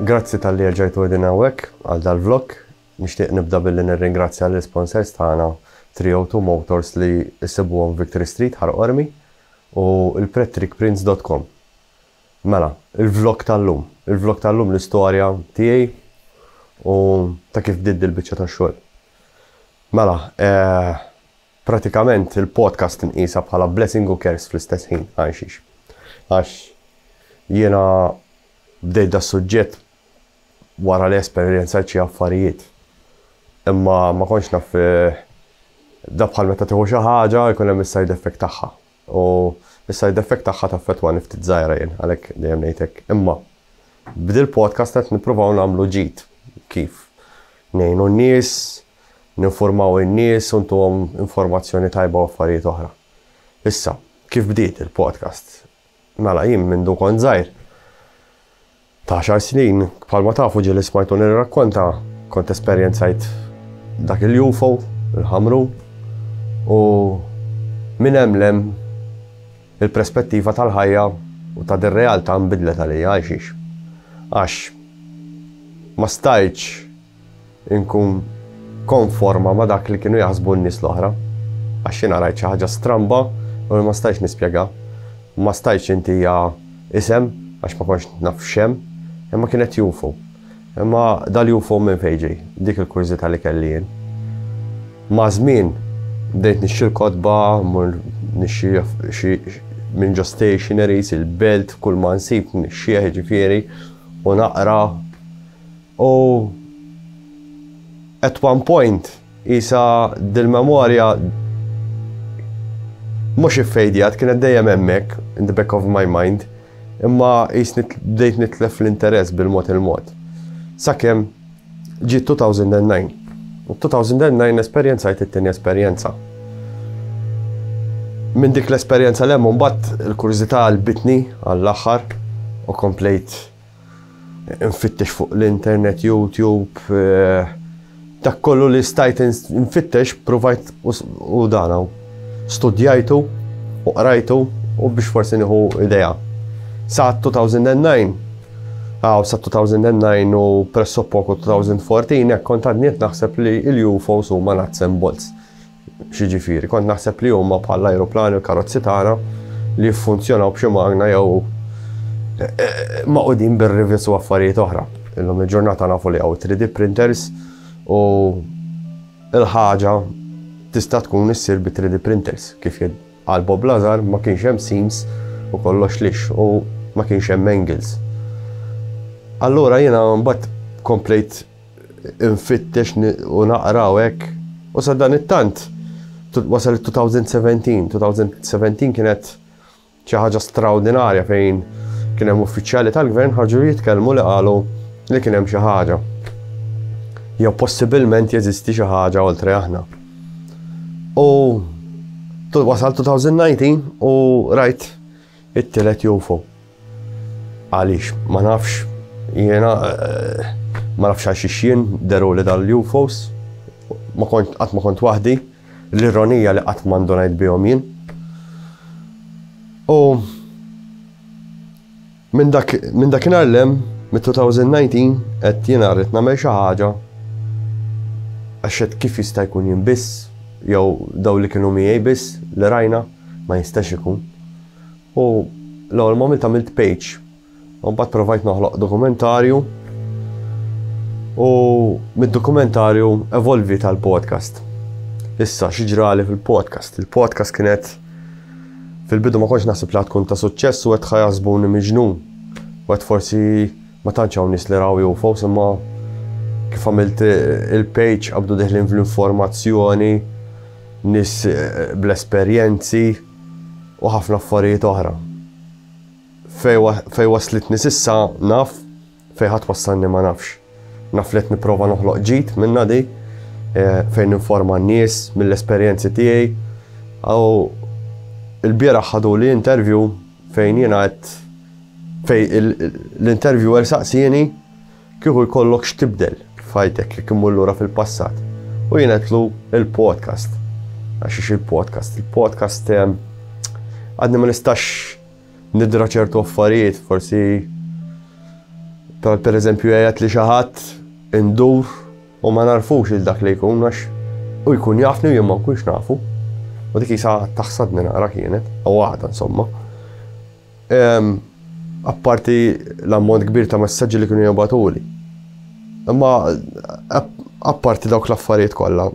Grazzi talli erġajtu qegħdin hawnhekk għal dal-vlog. Nixtieq nibda billi nirringrazzja lill-sponsors tagħna 302 Motors li ssibuhom Victory Street, Ħal Qormi, u l-prettreekprints dot com. Mela, il-vlog tal-lum. Il-vlog tal-lum l-istorja tiegħi u ta' kif bdiet dil-biċċa tax-xogħol. Mela, Pratikament il-podcast tinqisha bħala blessing u curse fl-istess ħin, għalxiex? Għax jiena bdejt das-suġġett wara li esperjenzajt xi affarijiet. Imma ma kontx naf eh, da bħal meta tieħu xi ħaġa jkun hemm is-side effect tagħha. U is-side effect tagħha taffettwa niftit żgħira jien għalhekk dejjem ngħidlek. Imma bdil podcast qed nippruvaw nagħmlu ġid kif ngħinu n-nies ninfurmaw in-nies u ntuhom informazzjoni tajba u affarijiet oħra. Issa, kif bdiet il-podcast? Mela jien mindu kont żgħir ta' għaxar snin, bħalma tafu ġieli smajtu nirrakkonta, kont esperjenzajt dak il-UFO, il-ħamru, u minn hemm lem il-prespettiva tal-ħajja u ta' dir-realtà nbidlet għalija għal xiex. Għax ma stajtx inkun konforma ma' dak li kienu jaħsbu n-nies l-oħra, għax jiena rajt xi ħaġa stramba u li ma stajtx nispjegha. Ma stajtx intiha isem għax ma kontx naf x'hemm, imma kienet UFO. Imma dal-UFO minn fejn ġej? Dik il-kurżità li kelli jien. Maż-żmien bdejt nixtri l-kotba, mmur nixtri xi minn ġo stationaries, il-belt, kull ma nsib nixxieħ jiġifieri u naqra U at one point qisha dil-memorja mhux iffejdjat, kienet dejjem hemmhekk, in the back of my mind, imma qisni bdejt nitlef l-interess bil-mod il-mod. Sakemm ġiet 2009. U 2009 esperjenzajt it-tieni esperjenza. Minn dik l-esperjenza l-hemm mbagħad il-kurżità qalbitni għall-aħħar u komplejt nfittex fuq l-internet, YouTube, eh, dak kollu li stajt nfittex, provajt u dana. Studjajtu u qrajtu u biex forsi nieħu idea. Sa 2009, għaw sa 2009 u presso poku 2014, kont għadniet naħseb li il-UFOs huma nuts and bolts. X'jiġifieri? Kont naħseb li huma bħall-ajruplani u l-karozzi tagħna li jiffunzjonaw b'xi magna jew magħqudin bir-rivets u affarijiet oħra. Illum il-ġurnata nafu li hawn 3D printers u l-ħaġa tista' tkun issir bi 3D printers kif għal Bob Lazar ma kienx hemm seams u kollox lix u ma kienx hemm angles. Allura jiena mbagħad komplejt nfittex u naqra u hekk. U sa dan it-tant wasal 2017. 2017 kienet xi ħaġa straordinarja fejn kien hemm uffiċjali tal-gvern ħarġu jitkellmu li qalu li kien hemm xi ħaġa. Jew possibilment jeżisti xi ħaġa oltre aħna. U wasal 2019 u rajt It-tielet jufo. Għaliex? Ma nafx. Jiena ma nafx għal xiex jien deruli dal-UFOs. Ma kont qatt ma kont waħdi. L-ironija li qatt ma ndunajt bihom jien. U minn dak minn dakinhar lem mit-2019 qed jiena rrid nagħmel xi ħaġa għax kif jista' jkun jien biss jew daw li kienu miegħi biss li rajna. Ma jistax ikun. U l-ewwel ma għamilt għamilt page. U mbagħad provajt noħloq dokumentarju. U mid-dokumentarju evolvi tal-podcast. Issa xi ġrali fil-podcast. Il-podcast kienet fil-bidu ma kontx naħseb li tkun ta' suċċess u qed ħajasbuni miġnun. U qed forsi ma tantx hawn nies li raw jufo, imma kif għamilt il-page qabdu deħlin fl-informazzjoni nies bl-esperjenzi u ħafna affarijiet oħra. Fejn waslitni s'issa naf, fejn ħa twassalni ma nafx. Naf li qed nipprova noħloq ġid minna di, eh, fejn informa n-nies mill-esperjenzi tiegħi. Aw il-bieraħ ħadu li interview fejn jiena qed fejn l-interviewer saqsieni Kieku jkollok x'tibdel f'ħajtek jekk immur lura fil-passat u jingħedlu il-podcast. Għax ix il-podcast, il-podcast ehm, għadni ma nistax nidra ċertu affarijiet, forsi per eżempju jgħajat li xaħat indur u ma narfux il-dak li jkun għax u jkun jafni u jemma kunx nafu. U dik jisa taħsadni naqra kienet, u għada insomma. Apparti l-ammont kbir ta' messaġġi li kienu jibgħatuli. Imma apparti dawk l-affarijiet kollha,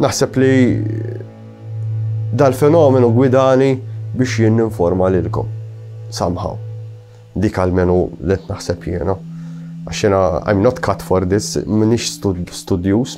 naħseb li dal-fenomenu gwidani biex jien ninforma lilkom. Somehow. Dik għalmenu li naħseb jiena. Għax jiena I'm not cut for this, minix studjus,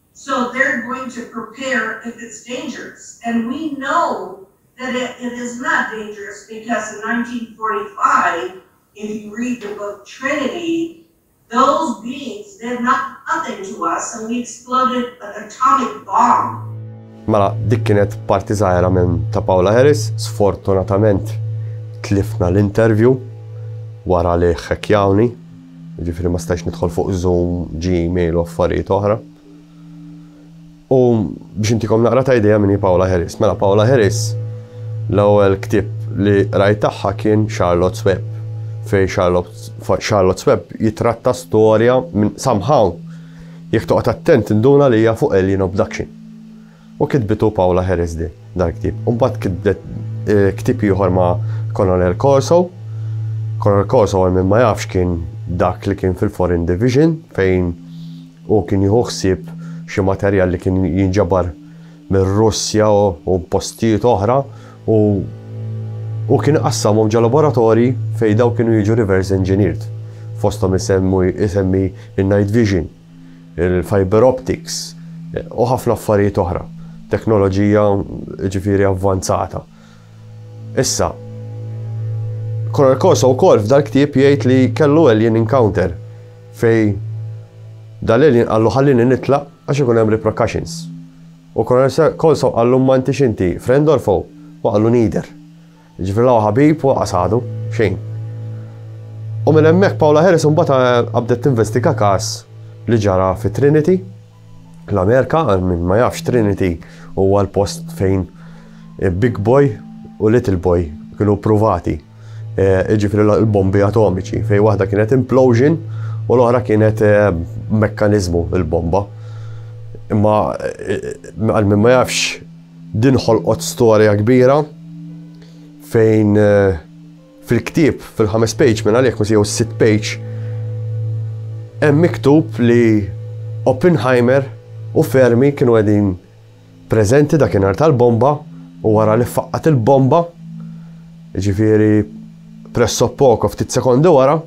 So they're going to prepare if it's dangerous and we know that it it is not dangerous because in 1945 if you read the book Trinity those beings did nothing to us and we exploded an atomic bomb. Mela, dik kienet parti żgħira minn ta' Paula Harris, sfortunatament tlifna l-interview wara li ħekjawni Jiġifieri ma stajtx nidħol fuq Zoom, Gmail u affarijiet oħra. U biex intikom naqra ta' idea minni Paola Harris. Mela Paola Harris l-ewwel ktib li rajt tagħha kien Charlotte's Web fej Charlotte's Web jitratta storja minn somehow jekk toqgħod attent induna li hija fuq Alien Abduction. U kitbitu Paula Heresdy dal-ktieb. U mbagħad kitbet ktieb ieħor ma' Colonel Corso. Colonel Corso għal min ma jafx kien dak li kien fil-Foreign Division fejn u kien jieħu ħsieb xi materjal li kien jinġabar mir-Russja u postijiet oħra u u kien qassamhom ġo laboratorji fejn daw kienu jiġu reverse engineered. Fosthom isemmi il-night vision. il-fibre optics u ħafna affarijiet oħra, teknoloġija jiġifieri avvanzata. Issa, Coral Corso wkoll f'dal-ktieb jgħid li kellu alien encounter fej dal-alien qallu ħallini nitlaq għax ikun hemm repercussions. U Coral Corso qallu ma intix inti friend or foe? U qallu neither. Jiġifieri la hu ħabib u lanqas għadu, xejn. U minn hemmhekk Paola Harris imbagħad qabdet tinvestiga każ li ġara fi Trinity, l-Amerika, għal min ma jafx Trinity huwa l-post fejn Big Boy u Little Boy kienu pruvati. E, iġifri l-bombi atomiċi, fej waħda kienet implosion u l-oħra kienet e, mekkanizmu il-bomba. Imma e, għal min ma jafx Din ħolqot storja kbira fejn fil-ktieb, fil-ħames page minn għalhekk jew is-sitt page, hemm miktub li Oppenheimer u Fermi kienu qegħdin preżenti dakinhar tal-bomba u wara li ffaqqat il-bomba, ġifieri pressoppoco ftit sekondi wara,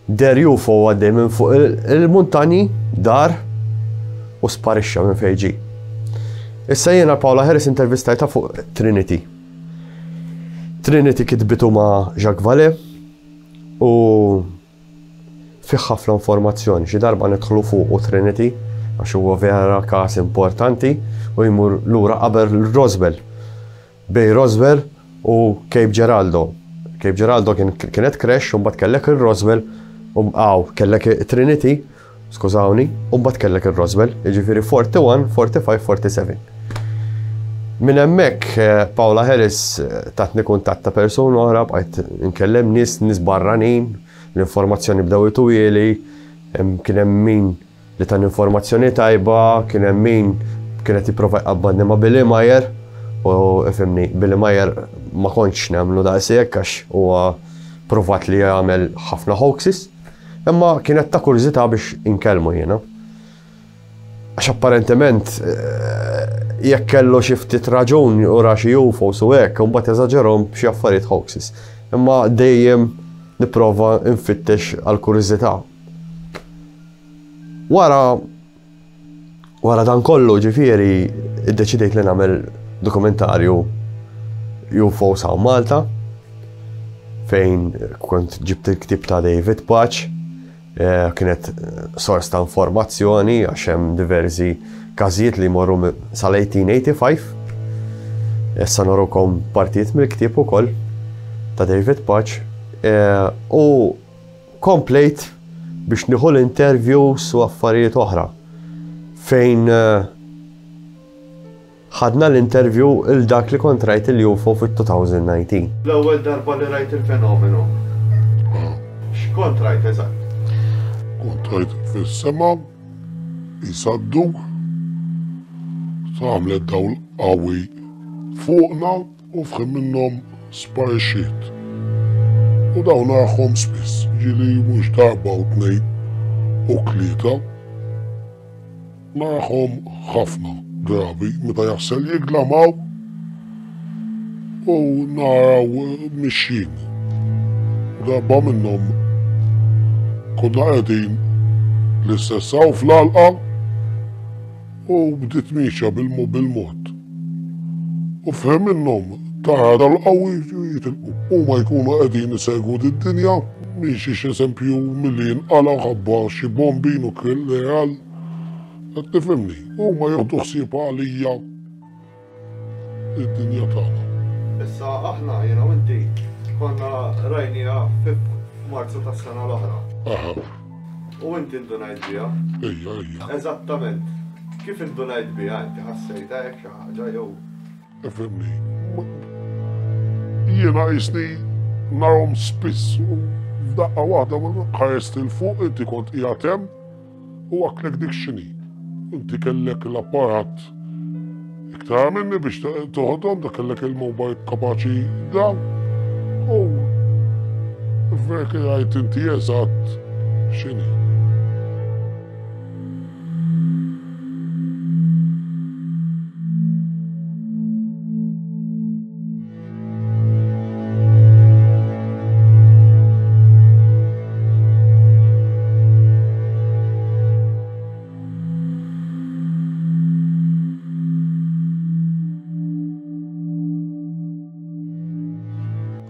Deher UFO għaddej minn fuq il-muntanji, dar u sparixxa minn fejn ġie. Issa jiena Paula Harris intervistajta fuq Trinity. Trinity kitbitu ma' Jacques Vallée u fih ħafna informazzjoni. Xi darba nidħlu fuq u Trinity għax huwa vera każ importanti u jmur lura qabel Roswell. Bay Roswell u Cape Geraldo. Cape Geraldo kien kienet crash u mbagħad kellek ir-Roswell u aw kellek Trinity, skużawni, u mbagħad kellek ir-Roswell, jiġifieri 41, 45, 47. Minn hemmhekk eh, Paula Harris eh, tatni kuntatt ta' persuna oħra bqajt nkellem nies nies barranin, l-informazzjoni bdew itujeli, kien hemm min Li tani informazzjoni tajba kien hemm min kien qed jipprova jqabbadni ma' Billy Meier u ifhimni Billy Meier ma kontx nemmnu daqshekk għax huwa pruvat li jagħmel ħafna hoaxes. Imma kienet ta' kurżità biex inkellmu jiena. Għax apparentement jekk kellu xi ftit raġun u ra xi UFOs u hekk, imbagħad eżaġerhom b'xi affarijiet hoaxes. Imma dejjem nipprova nfittex għal kurżità. Wara wara dan kollu ġifieri iddeċidejt li nagħmel dokumentarju UFO Saw Malta fejn kont ġibt il-ktib ta' David Paċ eh, kienet sors ta' informazzjoni għax hemm diversi każijiet li morru sal-1885. Issa norukom partijiet mill-ktieb ukoll ta' David Paċ eh, u Komplejt biex nieħu l-interviews u affarijiet oħra fejn ħadna l-interview il dak li kont rajt il-UFO fit-2019. L-ewwel darba li rajt il-fenomenu. X'kont rajt eżatt? Kont rajt fis-sema jsadduk tagħmlet dawl qawwi fuqna. U f'ħin minnhom sparixxiet. U dawn agħhom spiss, ġieli mhux darba u tnejn u tlieta. Nagħhom ħafna drabi meta jaħsel jiglamaw u naraw mixjin. Darba minnhom konna qegħdin l-istess hawn fl-għalqa U bdiet miexja bil-mod. U f'ħin minnhom tara l-qawwi jitilqu. Huma jkunu qegħdin isegwu did-dinja, miexi x'eżempju milli jinqala' ħabba xi bombi nukleal. Qed tifhimni? Huma jieħdu ħsieb għalija. id-dinja tagħna. Issa aħna jiena u inti konna rajnija f'Marzu tas-sena l-oħra. Aha. U inti ndunajt biha? Ejja, ejja. Eżattament. Kif indunajt biha inti ħassejta hekk xi ħaġa jew? Efemni. Jiena jisni narhom spiss u f'daqqa waħda ma ħarest il fuq inti kont qiegħed hemm U għaklek dik xini. Inti kellek l-apparat iktar minni biex toħodhom, da kellek il-mobile kapaċi da. U verki għajt inti eżatt xini.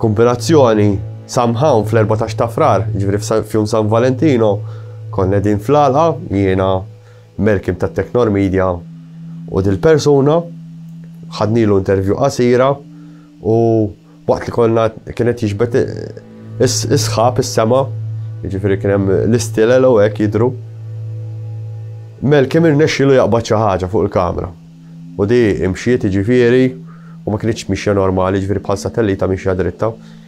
Kompilazzjoni Samhawn fl-14 ta' frar, ġifri f'jum San Valentino, konna din fl-alqa, jiena Merkim ta' Technor Media u dil-persuna, ħadnilu intervju qasira u waqt li konna kien qed jiġbed is-sħab is-sema, jiġifieri kien hemm l-istilel u hekk jidhru. Melkim irnexxielu jaqbad xi ħaġa fuq il-kamera. U di imxiet jiġifieri u ma kienitx mixja normali, jiġifieri bħal satellita mixja dritta.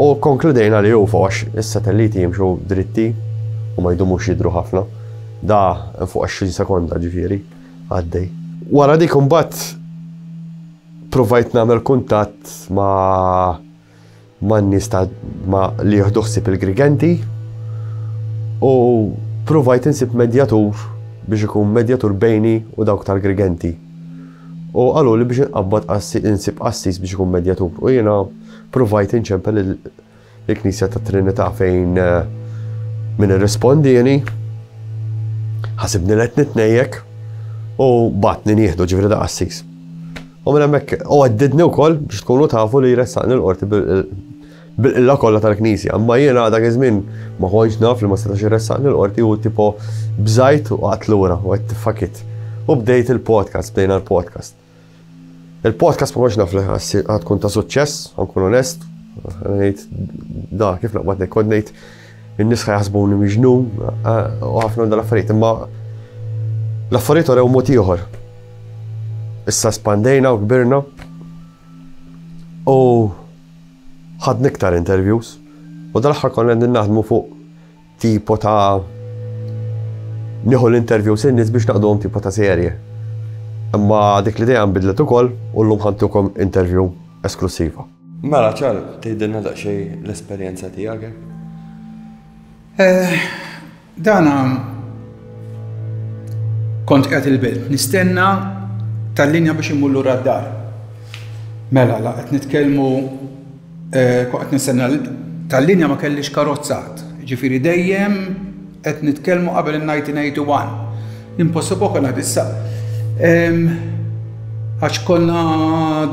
U konkludejna li u fox, is-satelliti jimxu dritti u ma jdumux jidru ħafna. Da fuq 20 sekonda ġifiri, għaddej. Wara dik imbagħad provajt nagħmel kuntatt ma' man nies ta' ma li jieħdu ħsieb il-Grigenti u provajt insib medjatur biex ikun medjatur bejni u dawk tal-Grigenti. U qalu li biex inqabbad insib qassis biex ikun medjatur. U jiena provajt inċempel il-Knisja ta' Trinità fejn eh, min irrispondieni ħasibni let nitnejjek u batni nieħdu ġifri da' qassis. U minn hemmhekk u għaddidni wkoll biex tkunu tafu li jressaqni l-qorti bil-qilla kollha tal-Knisja, imma jiena dak iż-żmien ma kontx naf li ma setax irressaqni l-qorti u tipo bżajt u qatt lura u għedt fakit. U bdejt il-podcast, bdejna l-podcast. Il-podcast ma kontx naf li ħadd tkun ta' suċċess, ħankun onest, ngħid da kif naqbad ngħid kont ngħid In-nies ħajħasbuni miġnun u ħafna minn dal-affarijiet, imma l-affarijiet orew mod ieħor. Issa spandejna u kbirna u ħadna iktar interviews u dal-aħħar konna qegħdin naħdmu fuq tipo ta' nieħu l-interviews in-nies biex naqduhom tipo ta' serje. Imma dik l-idea nbidlet ukoll u llum ħantukom interview esklusiva. Mela ċar, tgħidilna daqsxejn l-esperjenza tiegħek? Eh, dana kont qed il-bil, nistenna tal-linja biex imur lura d-dar. Mela, la qed nitkellmu eh, kont qed nistenna tal-linja ma kellix karozzat. Ġifieri dejjem Qed nitkellmu qabel in-1981. Impossible konna qed issa. Għax konna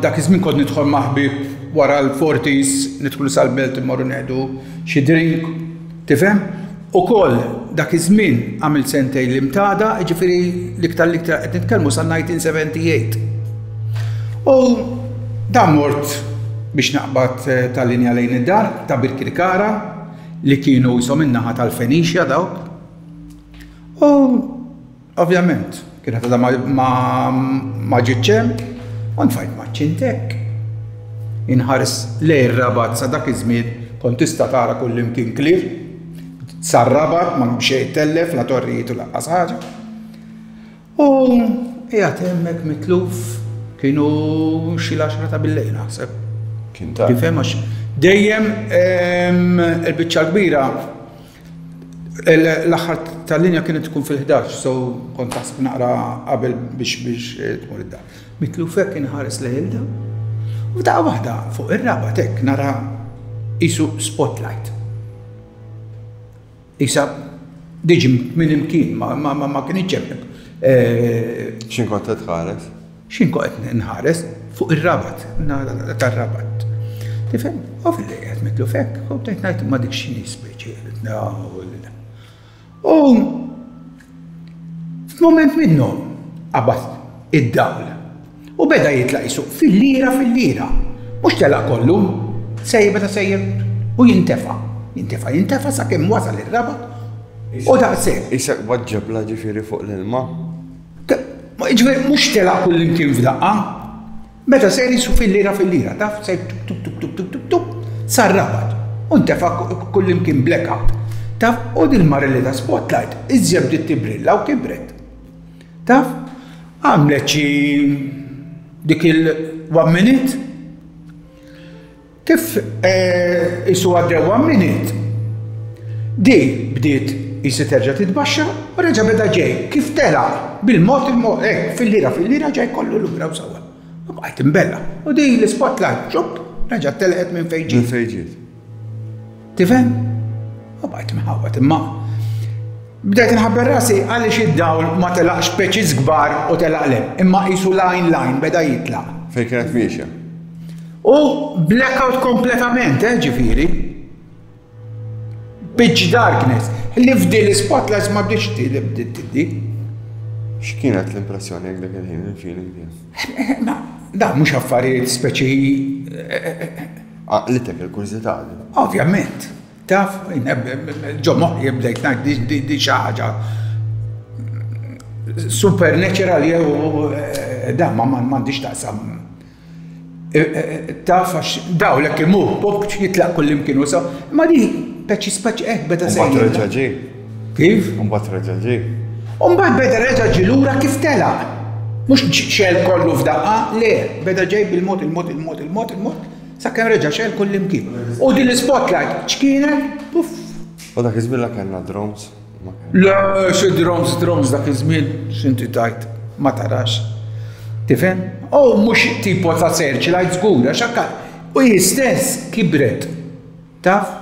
dak iż-żmien kont nidħol ma' ħbieb wara l-Fortis, nidħlu sal-Belt immorru neħdu xi drink, tifhem? Ukoll dak iż-żmien għamilt sentejn l-Imtada, jiġifieri l-iktar l-iktar qed nitkellmu sal-1978. U dan mort biex naqbad tal-linja lejn id-dar ta' Birkirkara, li kienu qishom min-naħa tal-Fenixja dawk, u ovvjament kienet għadha ma, ma, ma ġietx hemm, u nfajt ma ċint hekk. Inħares lej ir-rabat sa dak iż-żmien kont tista' tara kullimkien klieb, sar-rabat ma hemm xejn tellef la torrijiet u laqqas ħaġa. U qiegħed hemmhekk mitluf kienu xi l-għaxra ta' billejl naħseb. Kien ta' Tifhem għax dejjem ehm, il-biċċa kbira l-aħħar tal-linja kienet tkun fil-11, so kont taħseb naqra qabel biex biex eh, tmur id-dar. Mitlufek kien ħares leħilda, u ta' waħda fuq ir-raba tek nara isu spotlight. Qisha diġi minn imkien, ma kinitx hemm. X'in kont qed tħares? X'in kont qed nħares fuq ir-rabat, tar-rabat. Tifhem? Ovvju li qed mitlu fek, u bdejt ngħid ma dik x'inhi speċi. U F'mument minnhom qabad id-dawl u beda jitlaq jsuq fil-lira fil-lira. Mhux telaq kollu, sejjer beda sejjer u jintefa', jintefa' jintefa' sakemm wasal ir-Rabat u daqshekk. Isek b'għadd ġebla ġifieri fuq l-ilma. Jiġifieri mhux telaq kullimkien f'daqqa. Meta ser isu fil-lira fil-lira, taf, ser tup tup tup tup tup tup, sar rabat u ntefa' kullimkien blackout, taf, u dil-mara li ta' spotlight iżjed bdiet tibbrilla u kibret. Taf, għamlet xi dik il-one minute. Kif isuha dewwa miniet, di bdiet qisu terġa' titbaxxa u reġa' beda ġej, kif telaq, bil-mod il-mod, hekk, filliera filliera ġej kollu lura u sawwa. U bqajt imbella'. U di l-ispotlight, xupp, reġgħet telqet minn fejn ġiet. Tifhem? U bajt mħawwad imma. Bdejt nħabber rasi għaliex id-dawl ma telaqx peċiż kbar u telaq lem, imma qisu lajn lajn beda jitlaq. Fejn kienet miexja? U blackout kompletament, eh, ġifieri. Pitch darkness, li fdi l-spotlights ma bdiex ti li bdiet tiddi. X'kienet l-impressjoni għek dak il-ħin, il-feeling tiegħek? Da, mhux affarijiet speċi eh, eh, eh, Għaqlitek il-kurżità di. Ovvjament. Taf, ġo moħħi bdejt ngħid di xi ħaġa supernatural jew eh, da ma m'għandix taqsam. Eh, eh, taf għax daw l-ekk imur, jitlaq kullimkien u so, ma di peċi speċi, eh, beda sejn. Kif? U mbagħad reġa' ġie? U mbagħad beda reġa' ġie lura kif telaq. Mhux xegħel kollu f'daqqa, le, beda ġej bil-mod, il-mod, il-mod, il-mod, il-mod, sakemm reġa' xegħel kullimkien. U din l-spotlight x'kienet? Puff! U dak iż-żmien la kellna drones. Le, xi drones, drones dak iż-żmien, x'inti tajt, ma tarax. Tifhem? U mhux tipo ta' searchlight żgur, għax u hi stess kibret. Taf?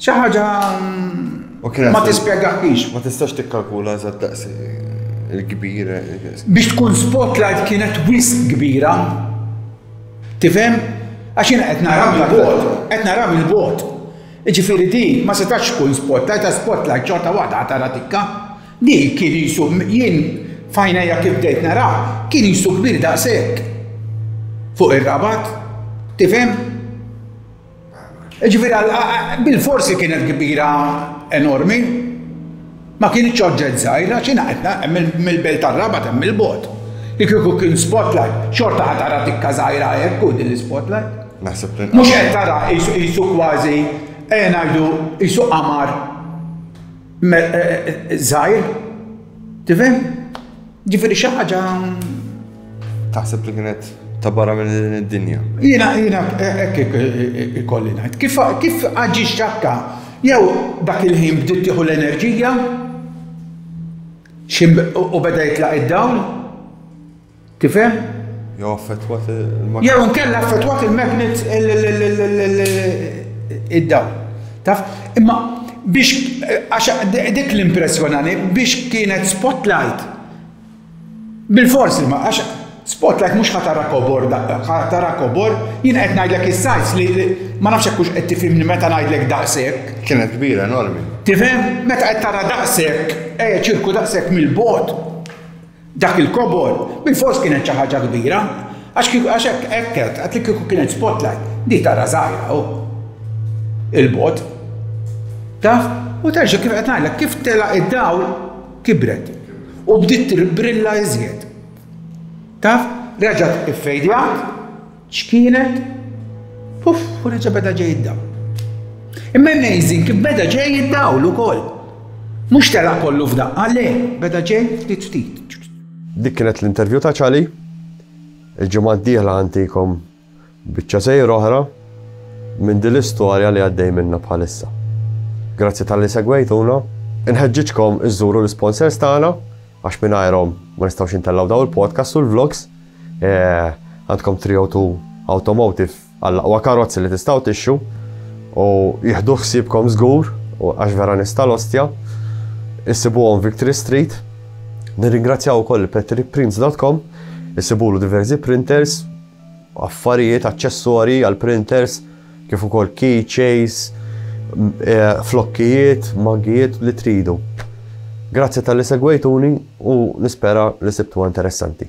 Xi ħaġa ma tispjegaħlix. Ma tistax tikkalkula eżatt daqs il-kbir. Biex tkun spotlight kienet wisq kbira. Tifhem? Għax jiena qed nara mill-bot, qed nara mill-bot. Ġifieri di ma setax tkun spotlight, ta' spotlight ċorta waħda tara tikka. Di kien jisu jien fajnejja kif bdejt nara, kien jisu kbir daqshekk. Fuq ir-rabat, tifhem? Ġifieri bil-forsi kienet kbira enormi, ma kienx oġġett żgħir għax ingħaqidna mill-belt tar-Rabat hemm il-bogħod. Li kieku kien spotlight, xorta ħa tara tikka żgħira hekk u din l-spotlight. Naħseb li. Mhux qed tara qisu kważi ejja ngħidu qisu qamar Żgħir, tifhem? Ġifieri xi ħaġa. Taħseb li kienet ta' barra minn din id-dinja. Jiena jiena hekk ikolli ngħid. Kif kif aġi xakka jew dak il-ħin bdiet tieħu l-enerġija u beda jitlaq id-dawl Tifhem? Jew affettwat il-magnet. Jew inkella affettwat il-magnet id-dawl. Taf? Imma biex għax dik l-impressjonani biex kienet spotlight. Bil-forsi ma għax spotlight mhux ħatara kobor daqqa, ħatara kobor jien qed ngħidlek is-sajs li ma nafx hekk qed tifhimni meta ngħidlek daqshekk. Kienet kbira enormi. Tifhem meta qed tara daqshekk, eh ċirku daqshekk mill-bot. Dak il-kobor bilfors kienet xi ħaġa kbira, għax kieku għax hekk hekk għedt, għedt li kieku kienet spotlight, di tara żgħira hu. Il-bogħod. Taf? U terġa' kif qed ngħidlek, kif telaq id-dawl kibret. U bdiet tirbrilla iżjed. Taf? Reġgħet iffejdjat, X'kienet? Puff! U reġa' beda ġej id-dawl. Imma amazing kif beda ġej id-dawl ukoll. Mhux telaq kollu f'daqqa, le, beda ġej ftit ftit. Dik kienet l-interview ta' Ċali. Il-ġimgħa d-dieħla ħantikom biċċa sejr oħra minn din l-istorja li għaddej minna bħalissa. Grazzi tal-li segwejtuna. Inħeġġiġkom iżżuru l-sponsors tagħna għax mingħajrhom ma nistgħux intellgħu daw il-podcast u l-vlogs. Għandkom 302 Automotive għall-aqwa karozzi li tistgħu tixxu u jieħdu ħsiebkom żgur u għax vera nista' l-ostja. Issibuhom Victory Street. Nirringrazzjaw ukoll petriprints.com isibulu diversi printers, affarijiet, aċċessori għal printers kif ukoll keychains, eh, flokkijiet, maggijiet li tridu. Grazzi tal-li segwejtuni u nispera li sibtu interessanti.